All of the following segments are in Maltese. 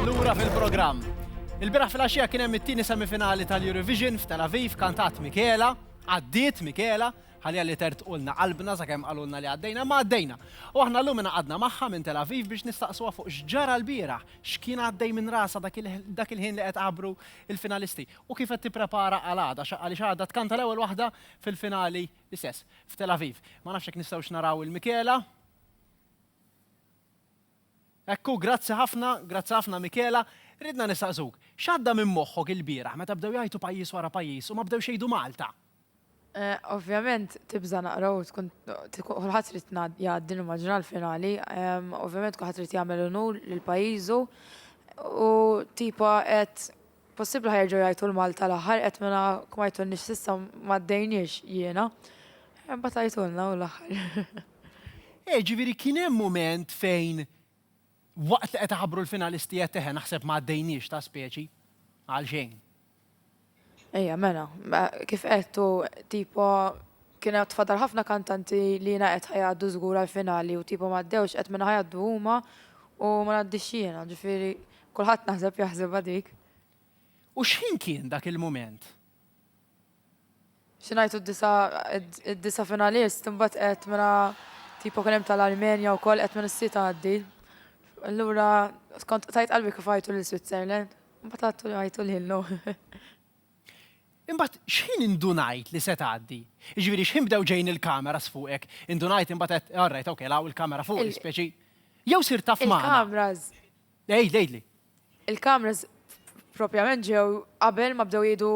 Lura fil-programm. Il-biraħ fil-axija kien hemm it-tieni semifinali tal-Eurovision f'Tel Aviv kantat Mikela, għaddiet Mikela, ħalja li tert ulna qalbna sa' kem qalulna li għaddejna, ma għaddejna. U aħna l-lum għadna maħħa minn Tel Aviv biex nistaqsuha fuq xġara l-bira, xkien għaddej minn rasa dak il-ħin li qed għabru il-finalisti u kif qed tipprepara għal għada, xaqqali xaħda tkanta l-ewel wahda fil-finali l-istess f'Tel Aviv. Ma nafxek nistawx naraw il-Mikela, Hekk hu, grazzi ħafna, grazzi ħafna Michela. Ridna nistaqsuk, x'għadda minn moħħok ilbieraħ meta bdew jgħajtu pajjiż wara pajjiż u ma bdewx jgħidu Malta? Ovvjament tibża' naqra u tkun kulħadd irid jgħaddi nimmaġina l-finali. Ovvjament kulħadd irid jagħmel unur lil pajjiżu u tipo qed Possibli ħa jerġgħu jgħajtu l-Malta l-aħħar qed mela ma jtunniex s'issa ma dejniex jiena. Imbagħad għajtulna hu l-aħħar. Eh, ġifieri kien hemm mument fejn waqt li qed iħabbru l-finalisti għedt eħe naħseb ma għaddejniex ta' speċi. Għalxejn. Ejja mela, kif qed hu tipo Kien għad fadal ħafna kantanti li jiena qed ħa jgħaddu żgur għall-finali u tipo m'għaddewx qed minn ħa jgħaddu huma u ma ngħaddix jiena, ġifieri kulħadd naħseb jaħsibha dik. U x'ħin kien dak il-mument? Xi ngħidu d-disa' id-disa' finalist imbagħad qed mela tipo kien hemm tal-Armenja wkoll qed minn is-sit għaddi. Allura kont tajt qalbi kif għajtu lil Switzerland, imbagħad għajtu lilhom. Imbagħad x'ħin indunajt li se tgħaddi? Jiġifieri x'ħin bdew ġejjin il-cameras fuqek? Indunajt imbagħad għedt, all right, okay, hawn il-kamera fuqi, dispjaċi. Jew sirt taf magħna? Il-cameras. Għidli, għidli. Il-cameras propjament ġew qabel ma bdew jgħidu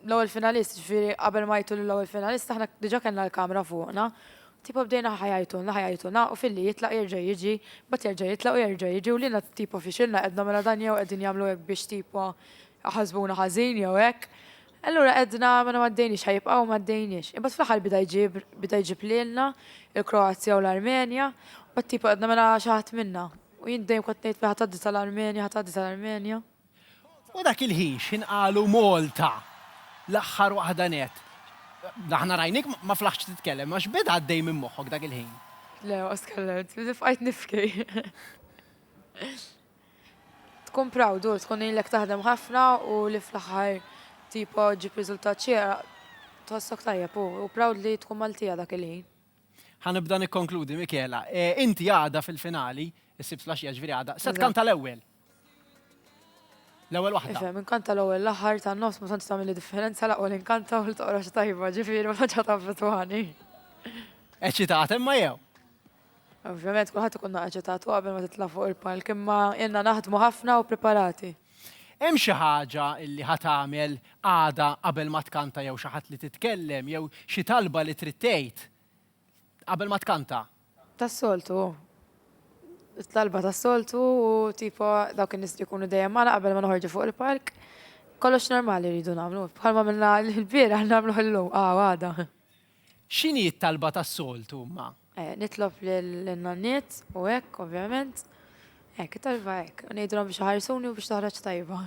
l-ewwel finalist, jiġifieri qabel ma jgħidu lill-ewwel finalist aħna diġà kellna l-kamera fuqna. Tipo bdejna ħa jgħidulna, ħa jgħidulna u filli jitlaq jerġa' jiġi, imbagħad jerġa' jitlaq u jerġa' jiġi u liena tipo fixilna qedna mela dan jew qegħdin jagħmlu hekk biex tipo Ħasbuna ħażin jew hekk. Allura għedna mela m'għaddejniex, ħa jibqgħu u m'għaddejniex. Imbagħad fl-aħħar bida jġib, bida jġib lilna il-Kroazja u l-Armenja, imbagħad tipo għedna mela xi ħadd minnha. U jien dejjem kont ngħid ħa tgħaddi tal-Armenja, ħa tgħaddi tal-Armenja. U dak il-ħin x'ħin qalu Malta, l-aħħar waħda nett. Aħna rajnik ma flaħtx titkellem, imma x'beda għaddej minn moħħok dak il-ħin? Le, ma tkellemt, bqajt nibki. Tkun proud u tkun ilek taħdem ħafna u li fl-aħħar tipo ġġib riżultat xieraq tħossok tajjeb u u proud li tkun Maltija dak il-ħin. Ħa nibda nikkonkludi Michela. Inti għada fil-finali, is-Sibt flaxija jiġifieri għada, se tkanta l-ewwel. L-ewwel waħda. Ifhem, inkanta l-ewwel, l-aħħar, tan-nofs ma tantx tagħmilli differenza l-aqwa li nkanta u li toqrox tajba, ġifieri ma tantx ħa taffettwani. Eċċitata imma jew? Ovvjament kulħadd ikun naqa' ġetatu qabel ma titla' fuq il-palk imma ilna naħdmu ħafna u preparati. Hemm xi ħaġa li ħa tagħmel għada qabel ma tkanta jew xi ħadd li titkellem jew xi talba li trid tgħid qabel ma tkanta? Tas-soltu hu. It-talba tas-soltu u tipo dawk in-nies li jkunu dejjem magħna qabel ma noħorġu fuq il-palk. Kollox normali rridu nagħmlu. Bħalma għamilna l-bieraħ nagħmluh illum, aw għada. X'inhi t-talba tas-soltu imma? Nitlob lin-nanniet u hekk, ovvjament. Hekk, it-talba hekk. Ngħidilhom biex iħarsuni u biex toħroġ tajba.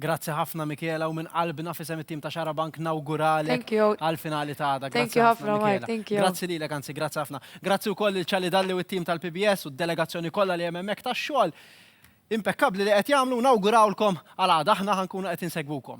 Grazzi ħafna Michela u minn qalbna f'isem it-tim ta' Xarabank nawguralek għall-finali ta' għada. Grazzi ħafna Michela. Grazzi lilek, anzi grazzi ħafna. Grazzi wkoll lil Charlie Dalli u t-tim tal-PBS u d-delegazzjoni kollha li hemm hemmhekk tax-xogħol impekkabbli li qed jagħmlu u nawgurawlkom għal għada. Aħna ħa nkunu qed insegwukom.